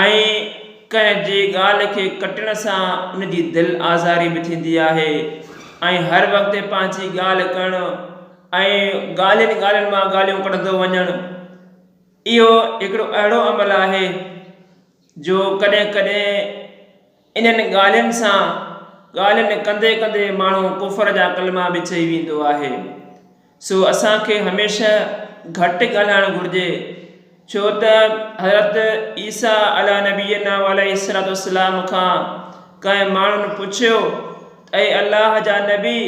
۽ ڪنهن جي ڳالهه کي ڪٽڻ سان ان جي دل آزاري به ٿيندي آهي ۽ هر وقت پنهنجي ڳالهه ڪرڻ ۽ ڳالهين ڳالهين مان ڳالهيون ڪڍندو وڃڻ اهو هڪڙو اهڙو عمل آهي جو ڪڏهن ڪڏهن انهن ڳالهين سان ڳالهين ڪندي ڪندي ماڻهو ڪفر جا ڪلما به چئي ويندو آهي. سو اسان کي هميشه گهٽ ڳالهائڻ گهرجي ڇو ته حضرت عيسيٰ عليٰ نبينا و عليه الصلوة والسلام کان ڪنهن ماڻهن پڇيو ته اي الله جا نبي!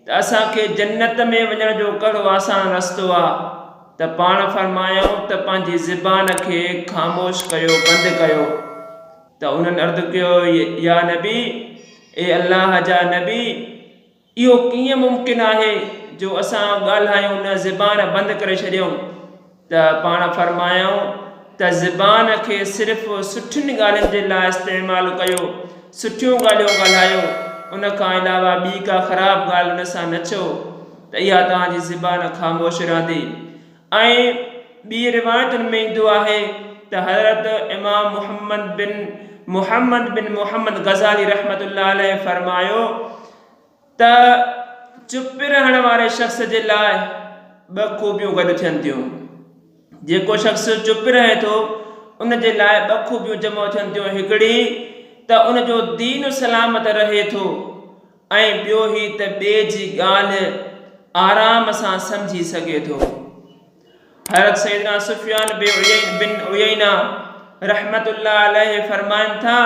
ته اسان کي جنت ۾ وڃڻ جو ڪهڙو آسان رستو آ ته پاڻ فرمايائون ته پنهنجي زبان کي خاموش ڪيو بند ڪيو ته انهن عرض ڪيو يا نبي اي الله جا نبي اهو ڪيئن ممڪن آهي جو اسان ڳالهايون نه زبان بند ڪري ڇڏيون. ته پاڻ فرمايائون ته زبان کي صرف سٺين ڳالهين جي لاء استعمال ڪيو، سٺيون ڳالهيون ڳالهايو، ان کان علاوه ٻي ڪا خراب ڳالهه ان سان نه چئو ته اها توهان جي زبان خاموش رهندي ۽ ٻي روايتن ۾ ايندو آهي ته حضرت امام محمد بن محمد بن محمد غزالي رحمة الله عليه فرمايو. ته چپ رهڻ واري شخص جي لاء ٻه خوبيون گڏ ٿين ٿيون. جيڪو شخص چپ رهي ٿو ان جي لاء ٻه خوبيون جمع ٿين ٿيون هڪڙي ته ان جو دين سلامت رهي ٿو ۽ ٻيو هي ته ٻئي جي ڳالهه آرام سان سمجهي سگهي ٿو. حضرت سيدنا سفيان بن عيينه رحمة الله عليه فرمائن ٿا،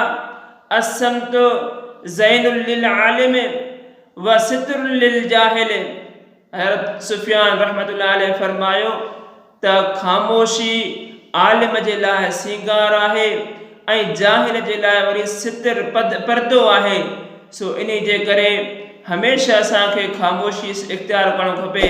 الصمت زين للعالم و ستر للجاهل حضرت سفيان رحمة الله عليه فرمايو ته خاموشي عالم جي لاء سينگار آهي ۽ جاهل جي لاء وري ستر، پردو، آهي، سو انهي جي ڪري هميشه اسان کي خاموشي اختيار ڪرڻ کپي.